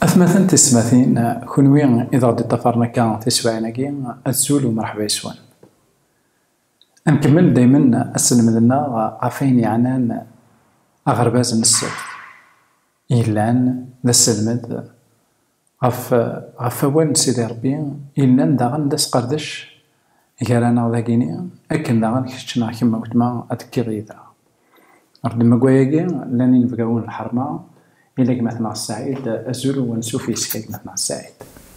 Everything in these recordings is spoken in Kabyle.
Atmaten tismatin, kunwi i d-ɣ d-iṭafaren akka tiswaɛin-agi, azul u mṛeḥba yes-wen. Ad nkemmel daymen aselmed-nneɣ ɣef wayen yeɛnan aɣerbaz n ssebt. Yellan d asselmed, ɣef ɣef wawal n Sidi Rebbi, yellan daɣen d asqerdec gar-aneɣ dagini, akken daɣen kečč neɣ kemm a weltma ad tekkiḍ yid-neɣ. Ɣef ddmegway-agi, llan inebgawen n lḥerma, ila gma-tneɣ Ssaɛid, azul u ansuf yes-k a gma-tneɣ Ssaɛid.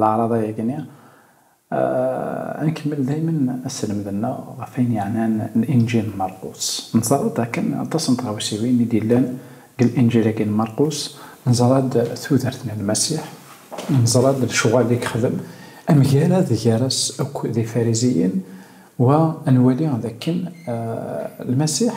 Laɛraḍa yagni, ad nkemmel daymen asselmed-nneɣ ɣef wayen yeɛnan Linǧil n Marqus. Neẓra-d dakken aṭas n tɣawsiwin i d-yellan deg Linǧil-agi n Marqus, neẓra-d tudert n Lmasiḥ, neẓra-d lecɣal i yexdem, amgarad gar-as akk d Ifariziyen, wa ad nwali dakken Lmasiḥ,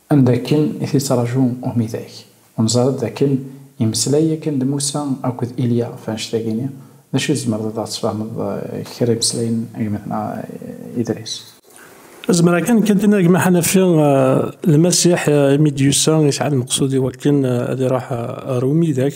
Am dakken i t-yettraǧu umidag. U neẓra-d dakken yemmeslay yakan d Musa akked Ilya ɣef wanect-agi-nni. D acu i tzemreḍ ad aɣ-tesfehmeḍ kra imeslayen n gma-tneɣ Idris? Zemreɣ kan kan d-iniɣ gma Ḥanafi, Lmasiḥ imi d-yusa yesɛa lmeqsud iwakken ad iruḥ ɣer umidag,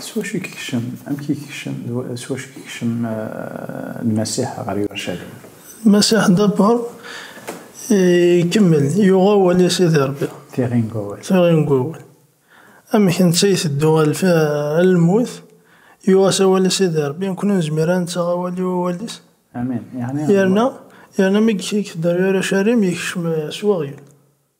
S wacu i yekcem, amek i yekcem, s wacu i yekcem Lmasiḥ ɣer Yurcalim? Lmasiḥ dabber ikemmel, yuɣ awal i Sidi Rebbi. Tiɣi n wawal. Tiɣi n wawal. Amek netta iteddu ɣer lmut, yuɣ-as awal i Sidi Rebbi, nekkni ur nezmir ara ad nettaɣ awal i wawal-is. Amin. Yerna, yerna mi yekder Yurcalim, yekcem s weɣyul.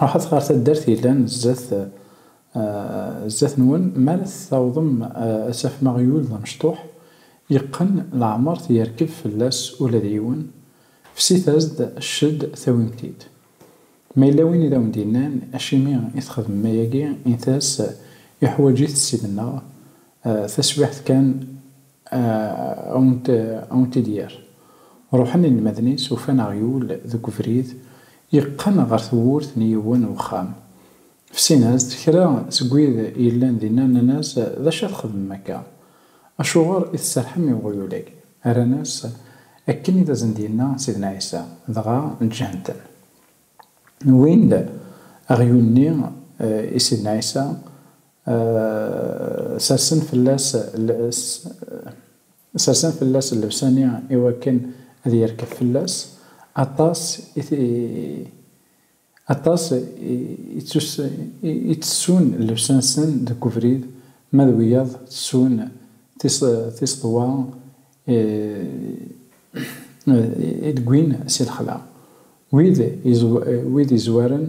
Ruḥet ɣer taddart yellan zdat zdat-nwen, mi ara t-tawḍem ad tafem aɣyul d amecṭuḥ yeqqen, leɛmeṛ t-yerkeb fell-as ula d yiwen, fsit-as-d cced tawim-t-id. Ma yella win i d awen-d-yennan acimi i txedmem ayagi, init-as iḥwaǧ-it ssib-nneɣ, taswiɛt kan. Awntidyar. Ruḥen inelmaden-is, ufan aɣyul deg ubrid, yeqqen ɣer tewwurt n yiwen wexxam. Fsin-as-d kra seg wid yellan dinna, nnan-as, D acu ara txedmem akka? Acuɣer i tserrḥem i uɣyul-agi? Rran-as, Akken i d asen-d-yenna Sidna Ɛisa, dɣa ǧǧan-ten. Wwin-d aɣyul-nni i Sidna Ɛisa, sersen fell-as sersen fell-as llebsa-nni i wakken ad yerkeb fell-as, aṭas i aṭas i ttessun llebsa-nsen deg ubrid, ma d wiyaḍ ttessun tiseḍwa i d-wwin si lexla. Wid izwaren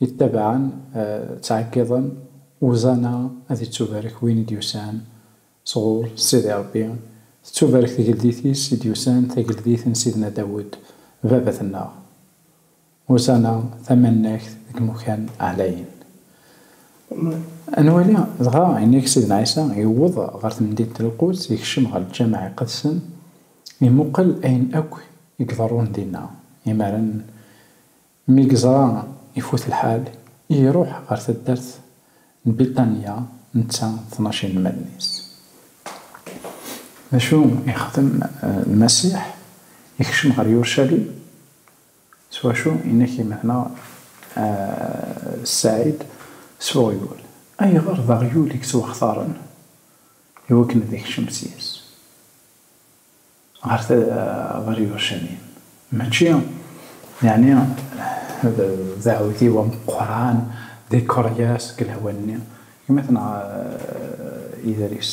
i ttabaɛen ttɛeggiḍen, Uzana ad ittubarek win i d-yusan sɣur Sidi Rebbi, tettubarek tgeldit-is i d-yusan, tageldit n Sidna Dawed, baba-tenneɣ. Ussan-a tamannagt deg imukan ɛlayen. Ad nwali dɣa ayen i Sidna Ɛisa yewweḍ ɣer temdint n Lquds, yekcem ɣer Lǧameɛ Iqedsen, imuqel ayen akk i iḍerrun dinna. Imaren mi yeẓra ifut lḥal, iruḥ ɣer taddart n Bitanya netta d tnac inelmaden-is. D acu i yexdem Lmasiḥ? Yekcem ɣer Yurcalim. S wacu i n-ak-imenna Ssaɛid s uɣyul? Ayɣer d aɣyul i yettwaxtaren i wakken ad ikcem seg-s ɣer Yuṛcalim? Mačči yeɛni d aɛudiw ameqqran, d ikeṛyas deg lehwa-nni, gma-t neɣ ider-is?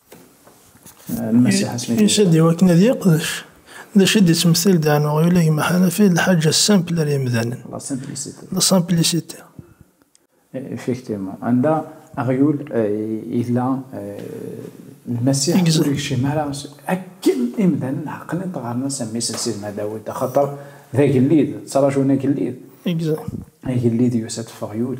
Yusa-d i wakken ad yeqdec d acu i d-yettmetil Dan uɣyul i gma Ḥanafi d lḥaǧa simple ar yimdanen, la simplicité. Effectivement, anda aɣyul yella Lmasiḥ ur yekcim ara akken imdanen ɛeqlen-t ɣer-nes am mmi-s n Sidna Dawed, axaṭer d agellid, ttraǧun agellid. Agellid yusa-d f uɣyul,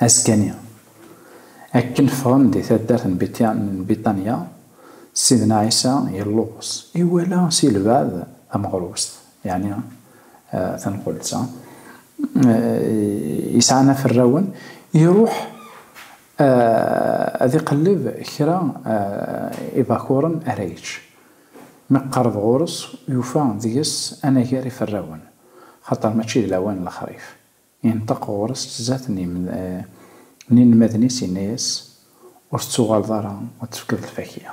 Askani, akken ffɣen di taddart n Bitanya, Sidna Ɛisa yelluẓ, iwala si lbeɛd tameɣrust, yeɛni tanqult-a yesɛan aferrawen, iruḥ ad iqelleb kra ibakuren ara yečč. Mi iqerreb ɣur-s, yufa deg-s anagar iferrawen, xaṭer mačči d lawan n lexrif. Yenṭeq ɣur-s zdat n yinelmaden-is, yenna-as, Ur tettuɣaleḍ ara ad d-tefkeḍ lfakya.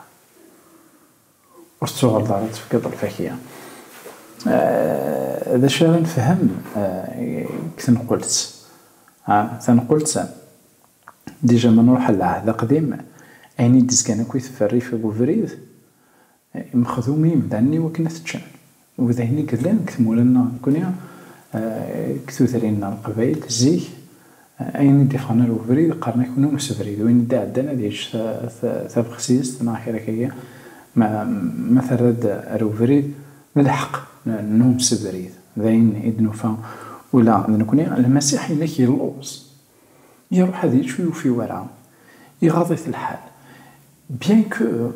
Ur tettuɣaleḍ ara ad d-tefkeḍ lfakya. D acu ara nefhem deg tenqelt? Tanqelt, dija ma nruḥ ɣer Lɛehd Aqdim, ayen i d-izgan akk i tferrif deg ubrid, A imexdum i yimdanen-iw akken a t-ččan u d ayen i yellan deg tmura-nneɣ nekkni deg tudrin n Leqbayel zik ayen i d-iffɣen ar webrid qqaren akk n umsebrid win i d-iɛeddan ad yečč tabexsizt neɣ kra kagi ma ma terra-d ar webrid d lḥeq n umsebrid d ayen i d-nufa ula d nekkni Lmasiḥ inek yelluẓ iruḥ ad yečč ur yufi wara iɣaḍ-it lḥal bien que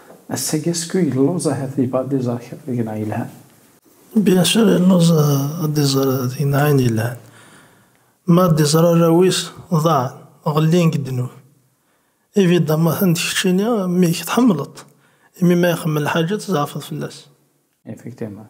Ass-agi asku yelluẓ ahat yebɣa ad d-iẓer kra deg-neɣ yelhan. Bien sûr yelluẓ ad d-iẓer deg-neɣ ayen yelhan. Ma ad d-iẓer arraw-is ḍaɛen, ɣellin deg ddnub. Évidemment anda keččini mmi-k tḥemmleḍ-t, imi ma ixemmel lḥaǧa tzeɛfeḍ fell-as. Effectivement.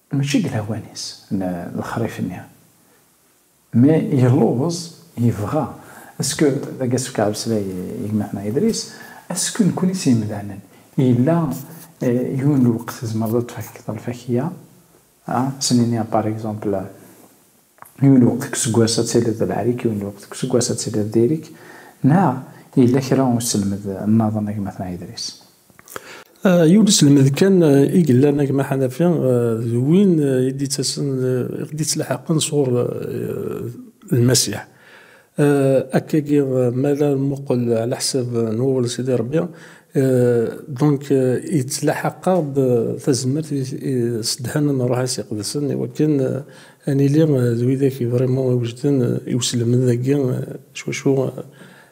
Mačči deg lawan-is n lexrif-nni, mi yelluẓ yebɣa, esku d agi asefk ɛemmeslay i gma-tneɣ Idris, esku nekkni s yemdanen yella yiwen lweqt tzemreḍ ad tfakkeḍ lfakya, s nini par exemple yiwen lweqt deg useggas ad tiliḍ d lɛrik, yiwen lweqt deg useggas ad tiliḍ d irik, neɣ yella kra uselmed nnaḍen a gma-tneɣ Idris? Yiwen uselmed kan i yellan a gma Ḥanafi, d win i d-yettasen, i ɣ-d-yettlaḥaqen sɣur Lmasiḥ. Akkagi, mi ara nmuqel ɛla ḥsab n wawal n Sidi Ṛebbi, donc yettlaḥaq-aɣ-d tazmert i ssedhan n Ṛṛuḥ-is Iqedsen i wakken ad nili d widak i vraiment iwejden i uselmed-agi s wacu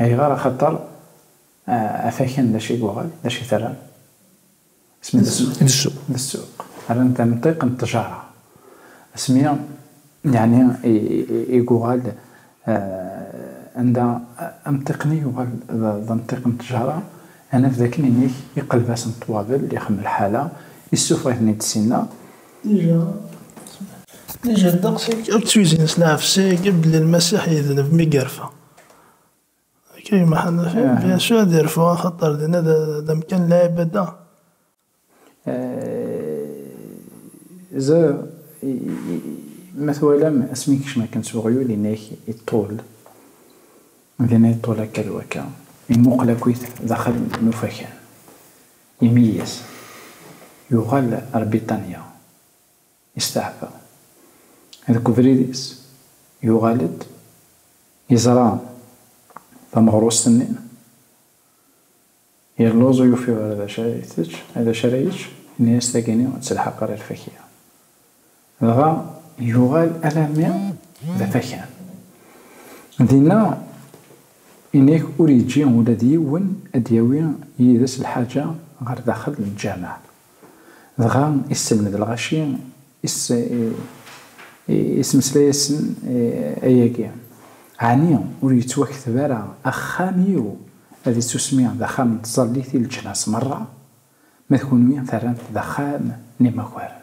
Ayɣer? Axaṭer afakan d acu i yuɣal, d acu i t-rran? Asmi d ssuq. D ssuq. D ssuq. Rran-t amṭiq n ṭṭjara. Asmi yeɛni i yuɣal anda amṭiq-nni yuɣal d amṭiq n ṭṭjara, ad naf d akken inig iqelb-asen ṭṭwabel, ixemmel ḥala, issufeɣ-iten-id sinna. Nijel ddeqs-ik akk d tuzzin s lɛefs-ik, belli Lmasiḥ yedneb mi yerfa. Akka gma Ḥanafi, bien sûr ad yerfu axaṭer dinna d amkan n lɛibada. Zer, ma twalam asmi yekcem akken s uɣyul, yenna-ak iṭṭul, dinna iṭṭul akka d wakka, imuqel akkit daxel n ufakan. Imi i as, yuɣal ar Biṭanya, yesteɛfa. Deg ubrid-is, yuɣal-d, yeẓra tameɣrust-nni, yelluẓ, ur yufi ara d acu ara itečč, d acu ara yečč, yenna-as tagini ad telḥeq ɣer lfakya. Dɣa yuɣal alammi d afakan. Dinna, ini-ak ur yeǧǧi ula d yiwen ad d-yawi yid-s lḥaǧa ɣer daxel n lǧameɛ. Dɣa isselmed lɣaci, ismeslay-asen ayagi, Ɛni ur yettwakteb ara axxam-iw ad ittusmi d axxam n tẓallit i leǧnas merra? Ma d kunwi terram-t d axxam n imakaren.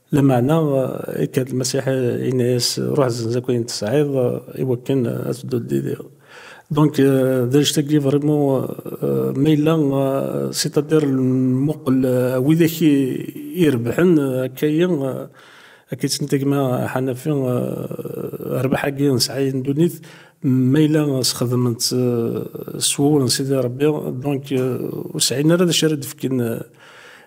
Lameɛna, ikka-d Lmasiḥ, yenna-yas, Ruḥ zzenz akk ayen tesɛiḍ, i wakken ad tedduḍ d yid-i. Donc, d annect-agi vraiment, ma yella, c'est-à-dire nmuqel widak i irebḥen, akka-yi, akka i tt-nettagma Hanafi, rrbeḥ-agi nesɛa i ddunit, ma yella sxedmen-tt s wawal n Sidi Rebbi, donc, ur sɛin ara d acu ara d-fken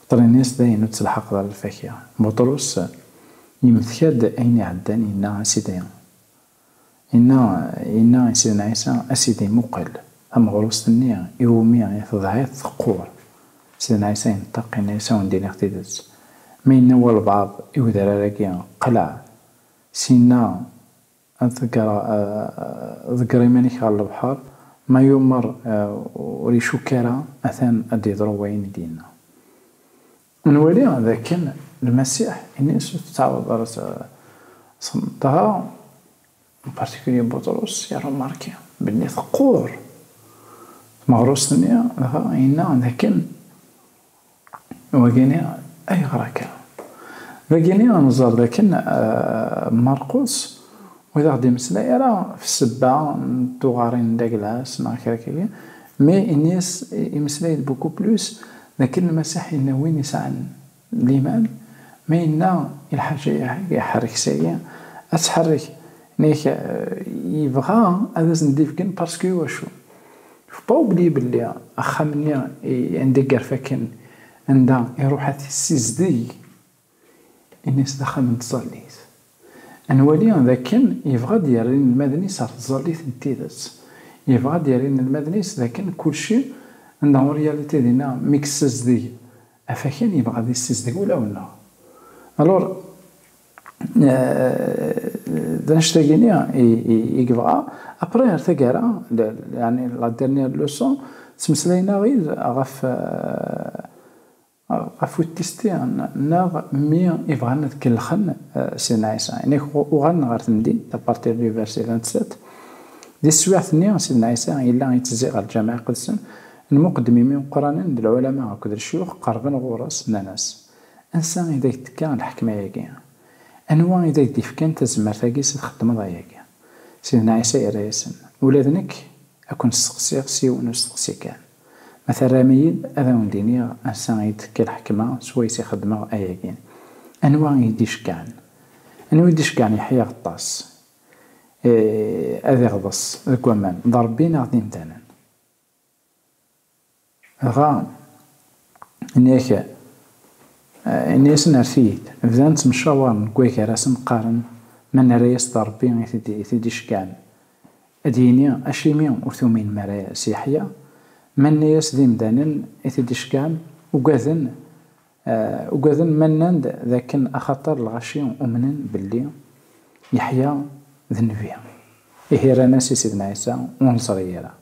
Beṭrinis dayen ur ttelḥaqeḍ ara lfakya. Buṭrus yemteka-d ayen iɛeddan yenna, A Sidi, yenna, yenna i Sidna Ɛisa, A Sidi, muqel! Tameɣrust-nni iwumi i tedɛiḍ teqqur. Sidna Ɛisa ineṭṭeq, yenna-yas, A wen-d-iniɣ tidet, ma yenna walbaɛḍ i wedrar-agi, Qleɛ! Syenna Ad ḍeggreɣ, ḍegger iman-ik ɣer lebḥer, ma yumeṛ ur icukk ara, atan ad d-yeḍru wayen i d-yenna. Ad nwali d akken Lmasiḥ ini-as ur tettɛawadeḍ ara ad txedmeḍ. Dɣa, en particulier Buṭrus, iṛumarki belli teqqur tmeɣrust-nni, dɣa yenna d akken Wagini ayɣer akka? D agini ad nẓer dakken Marqus ur aɣ-d-imeslay ara ɣef ssebba n tuɣarin n Daglas neɣ kra akka agi, mais ini-as imeslay-d beaucoup plus dakken Lmasiḥ yenna win yesɛan liman, ma yenna i lḥaǧa-ahag ḥerrek-sagi, ad tḥerrek, nek yebɣa ad as-d-ifgen parce que iwacu? Yefba ubli belli axxam-nni anda i yerfa akken anda iruḥ ad t-issizdeg, ini-as d axxam n tẓallit. Ad nwali d akken yebɣa ad d-yerr inelmaden-is ɣer tẓallit n tidet. Yebɣa ad d-yerr inelmaden-is d akken kulci en la réalité dinna mi yessizdeg afakan yebɣa ad issizdeg ulawen-nneɣ. Alors. d anect-agini i yebɣa. Apre ar taggara, yani la dernière leçon, ttmeslayen aɣ-id ɣef ɣef uttisti neɣ mi i bɣan ad kellxen Sidna Ɛisa. Inek uɣalen ɣer temdint, à partir du verset 27. Di teswiɛt-nni, Sidna Ɛisa yella ittezzi ɣer Lǧameɛ Iqedsen n Muqeddmimi Uqranen d lɛulama akked lecyux, qerben ɣur-s, nnan-as, Ansa i d ak-d-tekka lḥekma-agi? Anwa i d ak-d-ifkan tazmert-agi s txeddmeḍ ayagi? Sidna Ɛisa yerra-yasen, Ula d nekk a ken-steqsiɣ s yiwen usteqsi kan. Ma terram-iyi-d, ad awen-d-iniɣ ansa i d-tekka lḥekma s wayes i xeddmeɣ ayagi. Anwa i yi-d-iceggɛen? Anwa i d-iceggɛen Yeḥya Aɣeṭṭas ad iɣḍes deg waman, d Ṛebbi neɣ d imdanen? Dɣa, nniɣ-ak, ini-asen rret-iyi-d. Bdan ttemcawaren deg wagar ad asen-qqaren ma nerra-as d Rebbi i t-id-iceggɛen, ad d-yini acimi ur tuminem ara s Yeḥya? Ma nenna-as d imdanen i t-id-iceggɛen, ugaden Ugaden ma nnan-d d akken axaṭer lɣaci umnen belli Yeḥya d nnbi. Ihi rran-as i Sidna Ɛisa, Ur neẓri ara.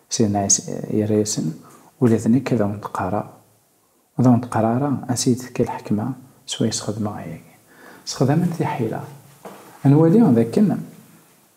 Sidna Ɛisa yerra-yasen, Ula d nekk ad awent-qqareɣ, ur d awent-qqareɣ ara ansi i d-tekka lḥekma swayes xedmeɣ ayagi. Sexdamen tiḥila ad nwali d akken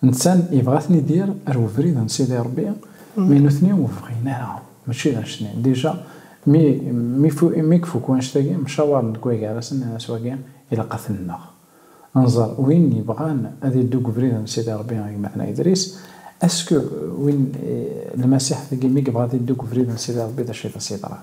Netta yebɣa ad ten-idir ar webrid n Sidi Rebbi, mais nutni ur bɣin ara, mačči d anect-nni. Déjà, mi ifuk wanect-agi, mcawaren deg wagar-as, nnan-as wagi ilaq ad t-nneɣ. Nẓer win yebɣan ad iddu deg ubrid n Sidi Rebbi a gma-tneɣ Idris. Est-ce que win, Lmasiḥ-tagi, mi yebɣa ad iddu deg ubrid n Sidi Rebbi, d acu i t-as-yeḍran?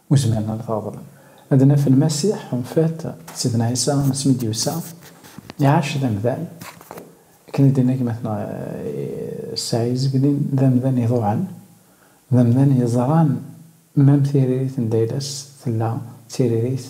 Ur zmiren ara ad t-reḍlen. Ad naf Lmasiḥ, en fait, Sidna Ɛisa, asmi d-yusa, iɛac d amdan, akken i d-tenna gma-tneɣ Ssaɛizegnin, d amdan iḍuɛen, d amdan yeẓran mam tiririt n Dayla-s tella d tiririt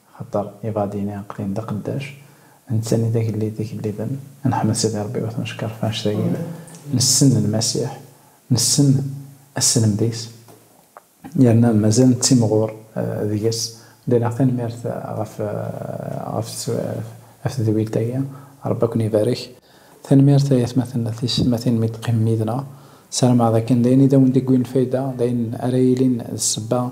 Axaṭer ibaḍiyen iɛeqliyen d aqeddac, nettani d agellid d igelliden, nḥmed Sidi Ṛebbi u t-neckeṛ ɣef anect-agi, nessen Lmasiḥ, nessen asselmed-is, yerna mazal nettimɣur deg-s. Ḍilleɣ tanemmirt ɣef tedwilt-agi. Ṛebbi ad ken-ibarek. Tanemmirt ay atmaten d teysetmatin mi d-teqqimem yid-neɣ. Ssarameɣ dakken d ayen i d awen-d-iwwin lfayda, d ayen ara yilin d ssebba